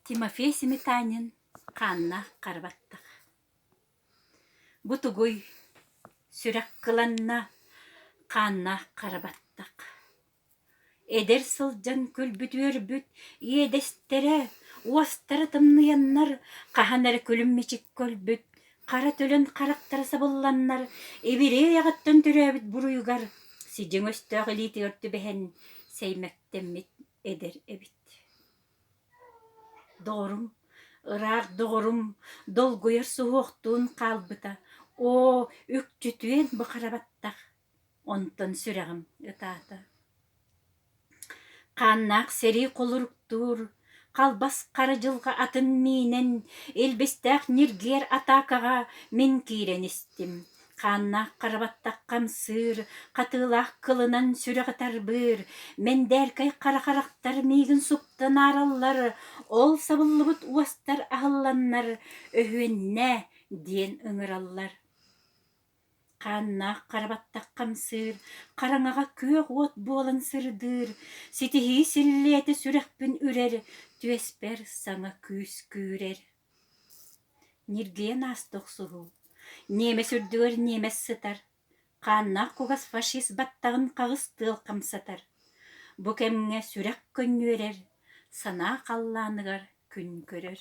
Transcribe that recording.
Тимофей Сметанин хаанна хара баттах. Бу тугуй? Сүрэх кыланна хаанна хара баттах. Эдэр сылдьан күлбүт-үөрбүт иэдэстэрэ, уостара тымныйаннар хаһан эрэ күлүм-мичик көлбүт Хара төлөн харахтара сабылланнар, ибирэй аҕаттан төрөөбүт буруйугар сидьиҥ өстөөх илиитигэр түбэһэн сэймэктэммит эдэр эбит. Доҕорум, ыраах доҕорум долгуйар суһуохтуун хаалбыта, оо, үкчүтүөн бу хара баттах Онтон сүрэҕим ытаата хааннаах сэрии холуруктуур халбас хара дьылҕа атын миинэн илбистээх ньиргиэр атаакаҕа мин киирэн истим хааннаах хара баттахха амсыыр хатыылаах кылынан сүрэҕи тарбыыр мэндээркэй хара харахтар миигин суптан аараллар ол сабыллыбыт уостар аһылланнар өһүөннээ диэн ыҥыраллар Хааннаах хара баттах хамсыыр, хараҥаҕа күөх уот буолан сырдыыр, ситиһии силлиэтэ сүрэхпин үрэр, түөспэр саҥа күүс күүрэр. Ньиргийэн ааста охсуһуу. Ниэмэс үрдүгэр ниэмэс сытар. Хааннаах кугас фашист баттаҕын хаҕыс тыал хамсатар. Бу кэмҥэ сүрэх көнньүөрэр, санаа халлааныгар күн көрөр.